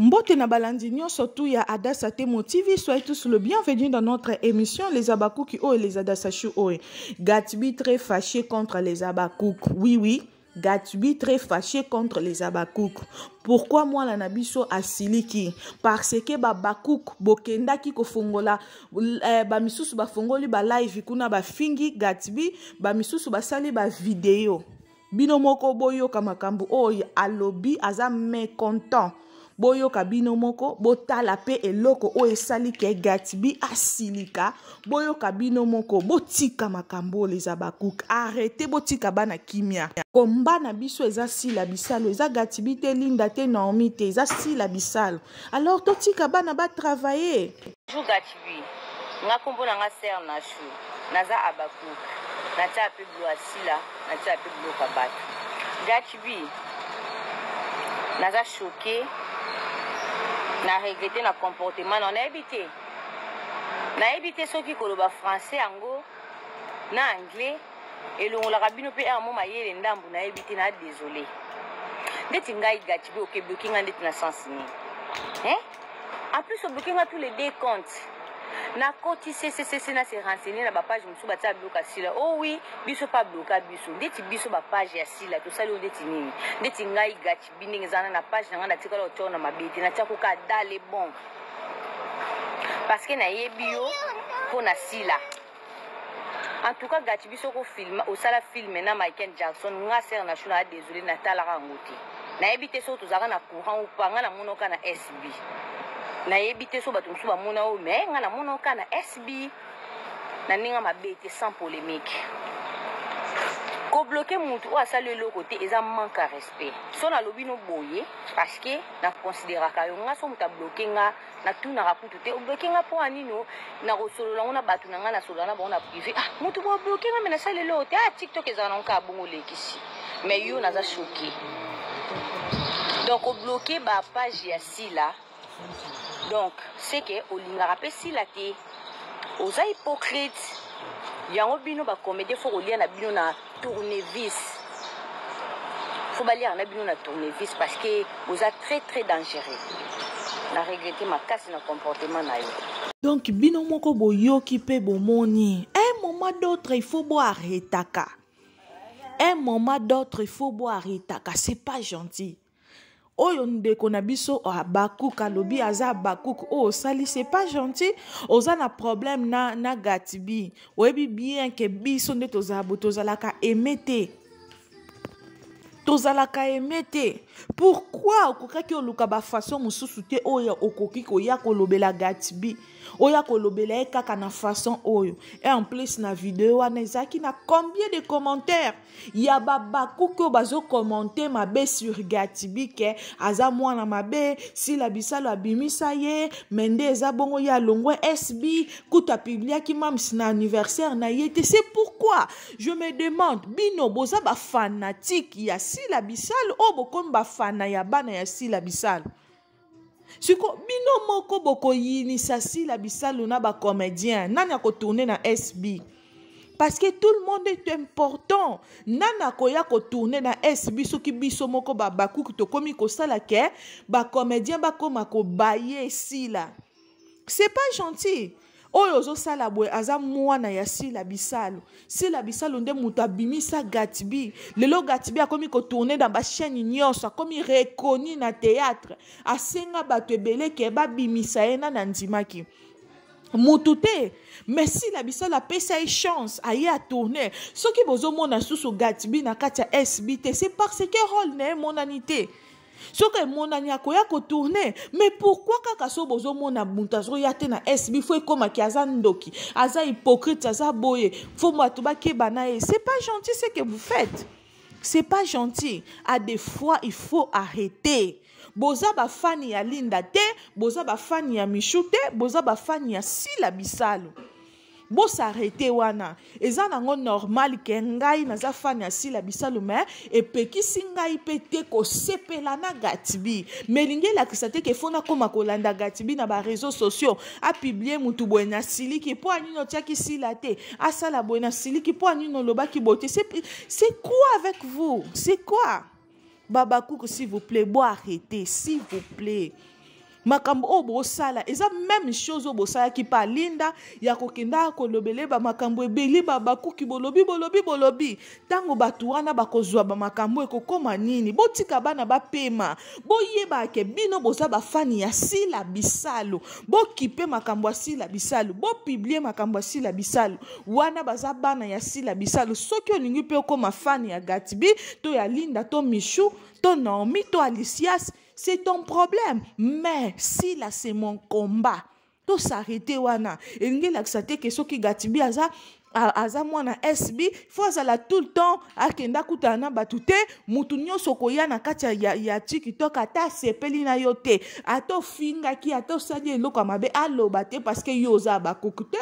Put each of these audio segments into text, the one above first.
Mbote na balandi nyonso tu ya Adassa Temo TV, soyez tous le bienvenu dans notre émission Les Abakuki Oe, Les Adassachu Oe. Gatsby très fâché contre les Abakouk. Oui, oui. Gatsby très fâché contre les Abakouk. Pourquoi moi la nabiso asiliki? Parce que Babakouk bokendaki kofongola eh, ba misusu bafongoli ba live kuna bafingi Gatsby, ba misusu basali ba video. bino moko boyoka makambo oyo alobi aza mécontent boyoka bino moko botala mpe eloko oyo esali ke gatbi asilika boyoka bino moko botika makambo oyo les abakuk arrete botika bana kimia komba na biso eza sila bisalo eza gatbi te linda te naomi te eza sila bisalo alors totika bana batravaille Bonjour Gatsby. Nga kombo na nga Serre Nashou. Naza Habakkuk. Natia pe bilo asila, natia pe biloko ya batu. Gatsby. Naza choqué. Na regretter na comportement na nayebi te. Nayebi te soki koloba français yango na anglais elongolaka bino pe amo mayele ndambu nayebi te na désolé. Ndeti ngai Gatsby okebloki nga ndeti na sens nini? Hein? en plus obloke nga tous les deux comptes nakoti sesesese na se renseigner na bapage mosusu batia bloka sila o oh wi biso mpe abloka biso ndeti biso bapage ya sila tosali oyo ndeti nini ndeti ngai gachi bi ndenge ezana na page na ngai natikala otoro na mabe te natiakoka dale bon parce que nayebi yo mpo na sila en tout cas gaci biso ko film osala film na michael jackson nga ser na shuna désolé natalaka yango te nayebi te soki tozalaka na courant ou pas nga namonoka na sb nayebi te so bato mosusu bamona oyo me nga namonoka na sb na ndenge mabe te sans polémique kobloke motu oyo asali eloko te eza manque ya respect so nalobi no boye parce que na consideraka yo nga so moto abloke nga natunaka kutu te obloke nga mpo ya nini oh? nakosolola yango na bato na ngai nasolola na bango na prive ah moto boye obloke nga me nasali eloko te ah tiktok ezalaka nango kaka bongo olekisi mais yo naza choke donc obloke bapage ya sila donc seke olingaka mpe sila te oza hypocrite yango bino bacomédien fo kolia na bino na tournevis faut baliaka na bino na tournevis parce que boza très très dangereux na regrete makasi na comportement na yo donc bino moko boyoki mpe bomoni un moment d'autre il faut boarretaka un moment d'autre il faut boarretaka c'est pas gentil oyo ndeko na biso abakuk alobi aza abakuk oyo oh, osali se pas gentil oza na problème na, na gatibi oyebi bien ke biso nde tozalabo tozalaka aime te tozalaka aime te pourkui okokaki oluka bafason mosusu te oyo okoki koya kolobela gatibi oya kolobela ye kaka na fason oyo e en plus na video wana ezalaki na combien de commentaires ya babakuki oyo bazokomante mabe sur gatibi ke aza mwana mabe sila bisalo abimisa ye me nde eza bongo ye alongwe sb kutu apibliaki mams na anniversaire na ye te se pourquoi je me demande bino boza bafanatike ya sila bisalo oyo bokomi bafana ya bana ya sila bisalo siko bino moko bokoyinisa sila bisalu na bacomédien nani akotourne na sb parce que tout le monde est important nani akoya kotourne na sb soki biso moko babakuki tokomi kosala ke bacomédien bakoma kobaye sila c'est pas gentil oyo ozosala boye aza mwana ya sila bisalu sila bisalu nde moto abimisa gatbi lelo gatbi akomi kotourne na bachaine nyonso akomi reconi na théâtre asenga bato ebele ke babimisa ye nani andimaki motu te mais sila bisalu apesa ye chance aye atourne soki bozomona susu gatbi na kati ya sb te c'est parce que role na ye emonani te soki emonani akoya kotourne mais pourkui kaka so bozomona moto azoya te na sb fo ekomaki aza ndoki aza hypocrite aza boye fo bato bakeba na ye c'est pas gentil ce que vous faites c'est pas gentil à des fois il faut arrêter boza bafani ya linda te boza bafani ya michou te boza bafani ya sila bisalu bosarete wana eza nango normal ke ngai naza fani ya sila bisalu me epekisi ngai mpe te kosepela na gatibi me elingi elakisa te ke fo nakoma kolanda gatibi na bareseau sociaux apiblie motu boye na siliki mpo anini otiaki sila te asala boye na siliki mpo anini olobaki boye te c'est quoi avec vous c'est quoi babakuku s'il vous plaît bo arrete s'il vous plaît makambo oyo bosala eza meme chose oyo bosalaki pa linda ya kokenda kolobele bamakambo ebeli babakuki bolobi bolobi bolobi ntango bato wana bakozwa bamakambo ekokoma nini botika bana bapema boyeba ke bino boza bafani ya sila bisalu bokipe makambo ya sila bisalu bopiblie makambo ya sila bisalu wana baza bana ya sila bisalu soki olingi mpe okoma fani ya gatbi to ya linda to michou to naomi to alicias c'est ton problème mais sila c'est mon combat tosarete wana elingi elakisa te ke soki gatbi aza aza mwana sb fo azala tout le temps akenda akutana na bato te motu nyonso okoya na kati ya, ya, ya tiktok ata asepeli na yo te ata ofingaki ata osali eloko ya mabe aloba te parceke yo oza bakuku te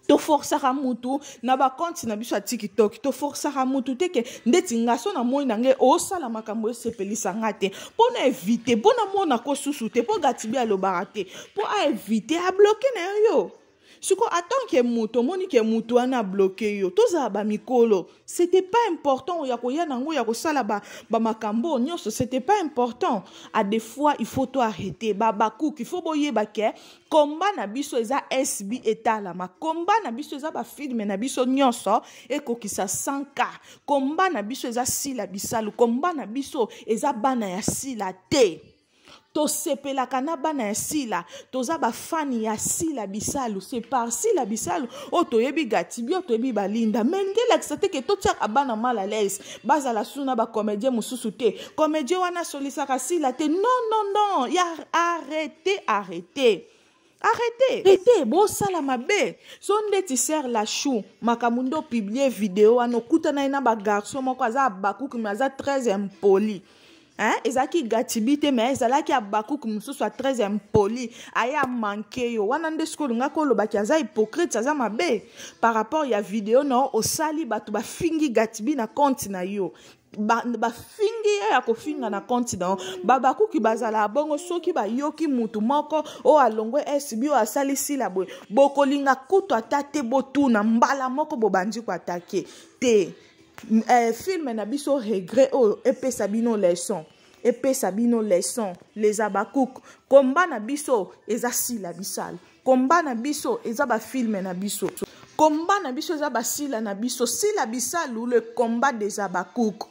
toforsaka mutu na bakonti na biso ya tikitoki toforsaka mutu te ke ndeti nga so namoni na ngai osala makambo esepelisa nga te mpo na evite mpo namonako susu te mpo gatibi alobaka te mpo aevite abloke na yo yo siko atant ke moto omoni ke moto wana abloke yo tozala bamikolo c'était pas important ya koya na yango ya kosala bamakambo ba nyonso c'était pas important à des fois il faut to arrete babakuki faut boyeba ke komba na biso eza sb etalama komba na biso eza bafilme na biso nyonso ekokisa 100 ka komba na biso eza sila bisalu komba na biso eza bana ya sila te tosepelaka na bana ya sila toza bafani ya sila bisalu se par sila bisalu oyo toyebi gatibio toyebi balinda me ngelakisa te ke totiaka bana mal à l'aise bazala susu na bacomédien mosusu te comédien wana asolisaka sila te non non non ya arrete arrete arrete arrete bosala mabe so ndeti ser lachou makambo nde opiblie video wana okutana ye na bagarçon moko aza abakuki me aza très impoli hein? ezalaki gatibi te mais ezalaki abakuku mosusu ya très impoli aye amanke yo wana nde soki olingaki olobaki aza hypocrite aza mabe par rapport ya video na yo osali bato bafingi gatibi na compte na yo bafingi ba ye ya kofinga na compte na yo babakuki bazala bongo soki bayoki motu moko oyo alongwe sbi oyo asali sila boye bokolinga kutu ata te botuna mbala moko bobandi koatake te eh, film na biso regret oyo epesa bino leçon epesa bino leçon les abakouk komba na biso eza sila bisala komba na biso eza bafilme na biso komba na biso eza basila na biso sila bisalu le combat des abakouk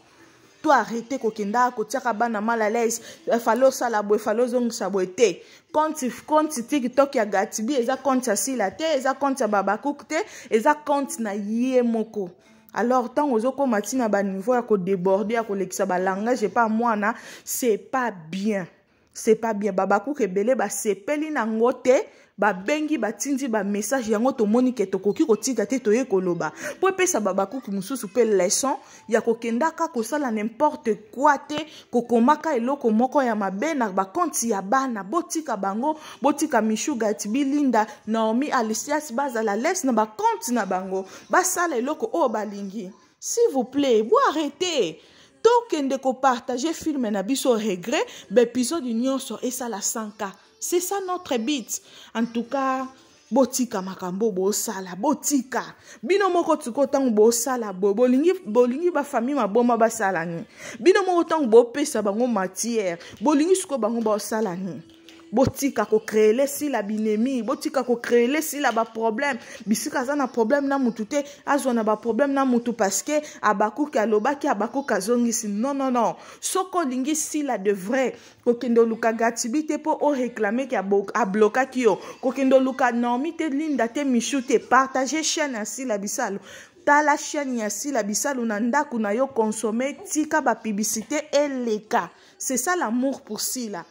to arrete kokenda kotiaka bana mal à l'aise efale osala boye efale ozongisa boye te compte compte tiktok ya gatibi eza compte ya sila te eza compte ya babakouk te eza compte na ye moko alors ntango ozokoma ti na baniveau ya kodeborde ya kolekisa balangage epa mwana c'est pas bien c'est pas bien babakuka ebele basepeli na ngo te babengi batindi bamessage yango tomoni ke tokoki kotika te toye koloba mpo epesa babakuki mosusu mpe leson ya kokendaka kosala nimporte kua te kokomaka eloko moko ya mabe na bakonti ya bana botika bango botika michugati bilinda naomi alisias bazala les na bakonti na bango basala eloko oyo balingi s'il vous plaît bo arrete tokende kopartage filme na biso regret baepisode nyonso esala 100k c'est ça notre but en tout cas botika makambo bosala botika bino moko tiko ntango bosala boye bolingi bolingi bafamille maboma basala nini bino moko ntango bopesa bango matière bolingi sikoyo bango basala nini botika kocreele sila binemi botika kocreele sila baproblème bisika aza na problème na mutu te azwa na baproblème na mutu parceke abakuki alobaki abakuki azongisi non non non soki olingi sila de vrai kokende oluka gatibi te mpo oreklame ke ablokaki yo kokende oluka normi te linda te michou te partage chaîne ya sila bisalu tala chaîne ya sila bisalu na ndako na yo consommer tika bapiblicité eleka c'est ça l'amour pour sila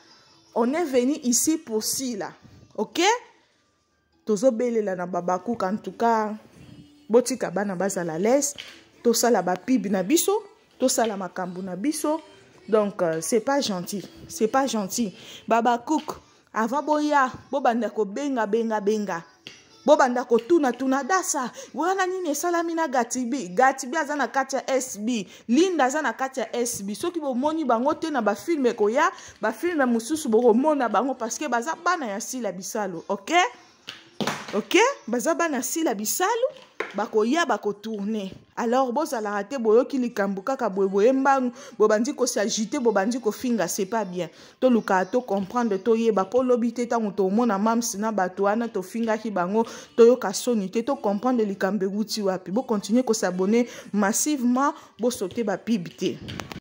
on est venu ici pour sila ok tozobelela na babakuka en tout cas botika bana bazala lese tosala bapibe na biso tosala makambo na biso donc euh, c'est pas gentil c'est pas gentil babakuke avant boya bobanda kobenga benga benga, benga. bobanda kotunatuna dasa wana nini esalami na gatibi gatibi aza na kati ya sb linda aza na kati ya sb soki bomoni bango te na bafilme ekoya bafilme mosusu bokomona bango parceke baza bana ya sila bisalu ok ok baza bana ya sila bisalu bakoya bakotourne alors bozalaka te boyoki likambo kaka boye boye mbangu bobandi kosagite bobandi kofinga c'est pas bien tolukaka tocomprendre toyeba mpo lobi te ntango tomona mams na bato wana tofingaki bango toyoka soni te tocomprendre likambo ewuti wapi bocontinue kosabone massivement bosote bapib te